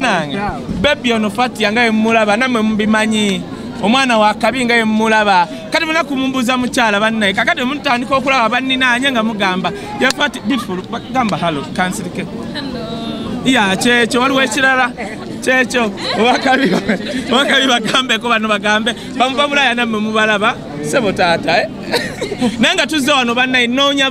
nange bebi ono fatia nga yemulaba namwe mubimanyi omwana wakabi nga yemulaba kati muna kumumbuza mukyala bannaye kakati omutandika okulaba banninanye nga mugamba yafati beautiful gamba hallo kansirike ya kyekyo waliwo ekirala kyekyo obakabi obakabi bagambeko bano bagambe bamuva bulaya namwe mubalaba sebo taata eh? naye nga tuzze wano bannaye noonya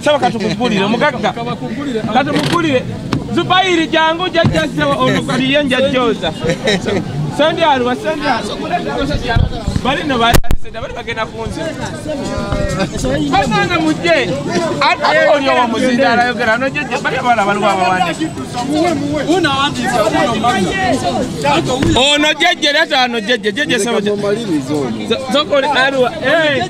saba katukugulire omugagga katumugulire zubayiri jangu jajja saba ono kaliye njajjoza sendyalwa sendyalbalino baaliseda bali bagenda kunzi basanga mujje oli owo muzinda alayogera nojeje bali abala baliwo abawandiki ono jeje leta ano jeje jeje saba zokoli aliwa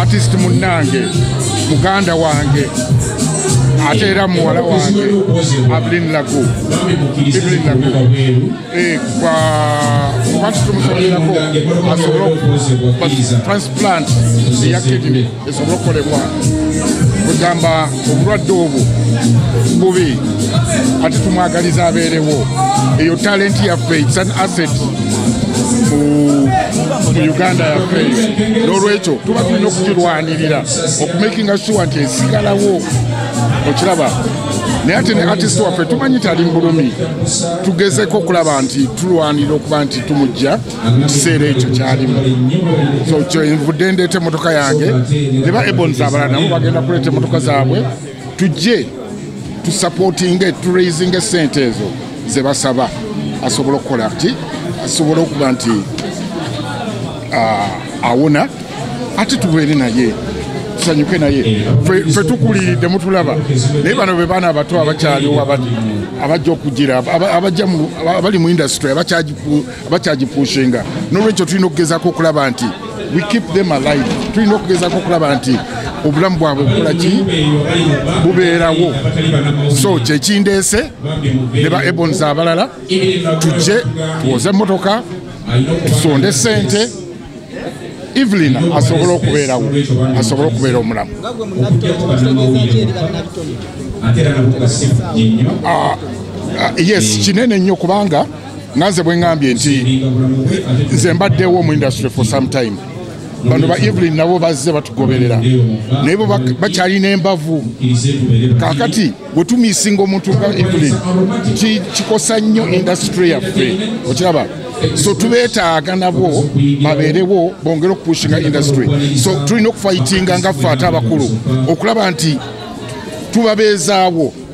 artist munnange muganda wange ate era muwala wange ablin lagu iblin lagu eh, kwa watu tumusomerako asobole transplant eya kidney esobole okukolebwa kugamba obulwadde obwo bubi kati tumwagaliza abeerewo eyo talenti yaffe its an asset mu uganda yaffe n'olwekyo tuba tulina okukirwanirira okumakinga sure nti esigalawo okiraba naye ate ne artist waffe tumanyi tali mbulumi tugezeko okulaba nti tulwanira okuba nti tumujja mu kiseera ekyo kyalimu so kyenvudde ndeeta emmotoka yange ne ba ebons abalala nabo bagenda kuleeta emmotoka zaabwe tujje tusapootinge turaisinge sente ezo ze basaba asobola okukola ti asobola okuba nti awona ate tubeere naye tusanyuke naye fe tukuliridde mutulaba naye bano be baana abato abakyaliwo abajja okugira abali mu industry abakyagiku bakyagipushinga nolwekyo tulina okugezako okulaba nti we keep them alive tulina okugezako okulaba nti obulamu bwabwe bukola ki bubeerawo so kyekindeese ne ba ebons abalala tujje tuwoze emmotoka tusonde sente evelina asobola okubeerawo asobola okubeera omulamu ah, ah, yes kinene nnyo kubanga nga nze bwe ŋŋambye nti nze mbaddewo mu industry for some time bano ba evelyn nabo bazze batugoberera naye bo bakyalina embavu kakati wetumisinga omuntu nga evelyn kikosa nnyo industry yaffe okiraba so tubetaaga nabo babeerewo bongere okupushinga industry so tulina okufayitinga nga ffe ate abakulu okulaba nti tubabeezaawo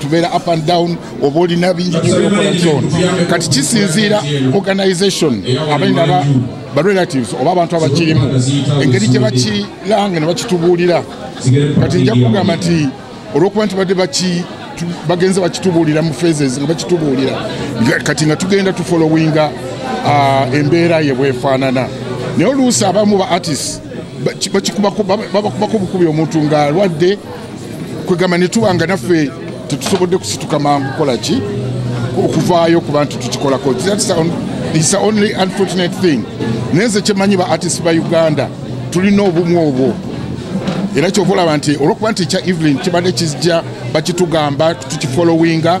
tubeera up and down oba olina bingi byokola zon kati kisinziira organization abalina ba barelatives oba abantu abakirimu engeri gye bakiranga ne bakitubuulira kati nja kugamba nti olwokuba nti badde baki bagenze bakitubuulira mu phases nga bakitubuulira kati nga tugenda tufolowinga ah, embeera ye bwefaanana naye oluusi abamu ba artist bakikubako babakubakubukubi omuntu ng'alwadde kwegamba ne tuba nga naffe tetusobodde kusituka mangu kukola ki okuvaayo ku bantu tukikolako is the only unfortunate thing naye nze kyemanyi ba artist ba uganda tulina obumu obwo era kyova olaba nti olwokuba nti ekya evelyn kibadde kizija bakitugamba tukifolowinga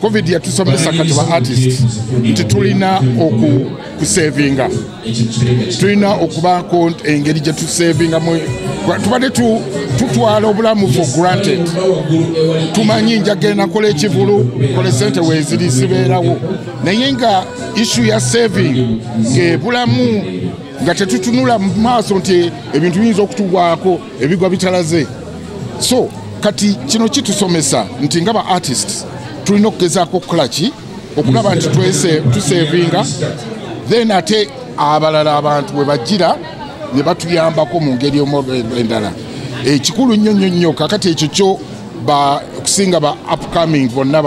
covid yatusomesa kati ba artist nti tulina okusevinga tulina okubaako engeri gye tusevingamu tubadde tutwala obulamu for granted tumanyi njagenda kola ekivulu kole sente weziri sibeerawo naye nga issu ya saving ngaebulamu nga tetutunula mu maaso nti ebintu biyinza okutugwako ebigwa bitalaze so kati kino kitusomesa nti nga ba artists tulina okugezaako okukola ki okulaba nti tusevinga then ate abalala abantu bwe bajjira ne batuyambako mu ngeri endala ekikulu nnyo nnyo nnyo kakati ekyo kyo okusinga ba upcoming bonna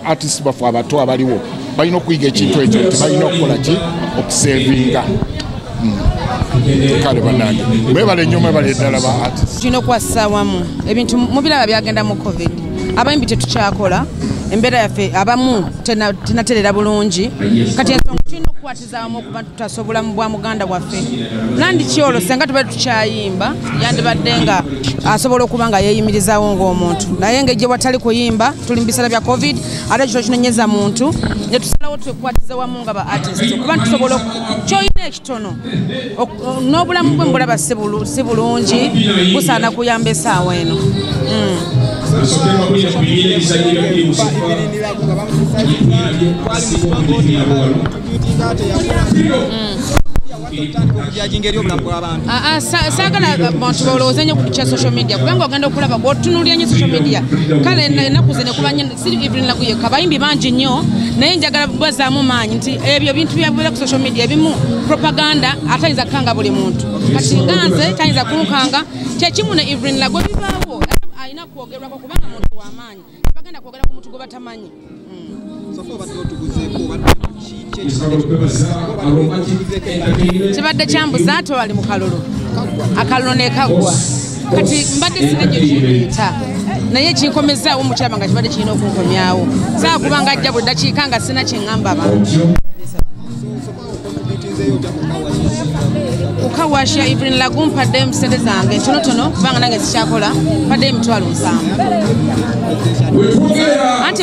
artist bafu abato abaliwo balina okuyiga ekintu ekyo nti balina okukola ki okusevinga hmm. kale banange mwebale nnyo mwebale eddala ba artist tulina okukwasisa wamu ebintu mubiraba byagenda mu covid abayimbi tetukyakola embeera yaffe abamu tenaterera bulungi kati ensonga tulina okukwata zaamu okuba tutasa obulamu bwa muganda waffe nandi kyolo senga tubadde tukyayimba yandibadde nga asobola okuba nga yeeyimirizaawo ng'omuntu naye nga ejje watali kuyimba tuli mu biseera bya covid ate kino kinonyeza muntu ne tusalawo twekwatiza wamu nga ba artist okuba tusobola kyoyina ekitono n'obulamu bwe mbulaba si bulungi busaana kuyamba esaawa eno saagala bantu balowooze nyo ku kya social media kubanga ogenda okulaba gwotunuulira nyo social media kale enaku ze nekuba siri evelyn lagu yekka bayimbi bangi nnyo naye njagala bazaamu maanyi nti ebyo bintu byabeera ku social media ebimu propaganda atayinza kukanga buli muntu kati nga nze tayinza kunkanga kyekimu ne evelyn lagu bibaawo alina kwogerwako kubanga muntu wamaanyi bagenda kwogera ku muntu gwe batamanyi hmm. kibadde kyambuza ate wali mu kalulu akalulu nekaggwa kati mbadde sina gye kireeta naye kinkomezaawo mukyama nga kibadde kirina okunkomyawo saa kuba nga ajja buli dakiika nga sina kyeŋŋamba abantu okawasha evelyn lagu mpadde mu sente zange ntonotono kubanga nange zikyakola mpadde emitwalo nsanvu anti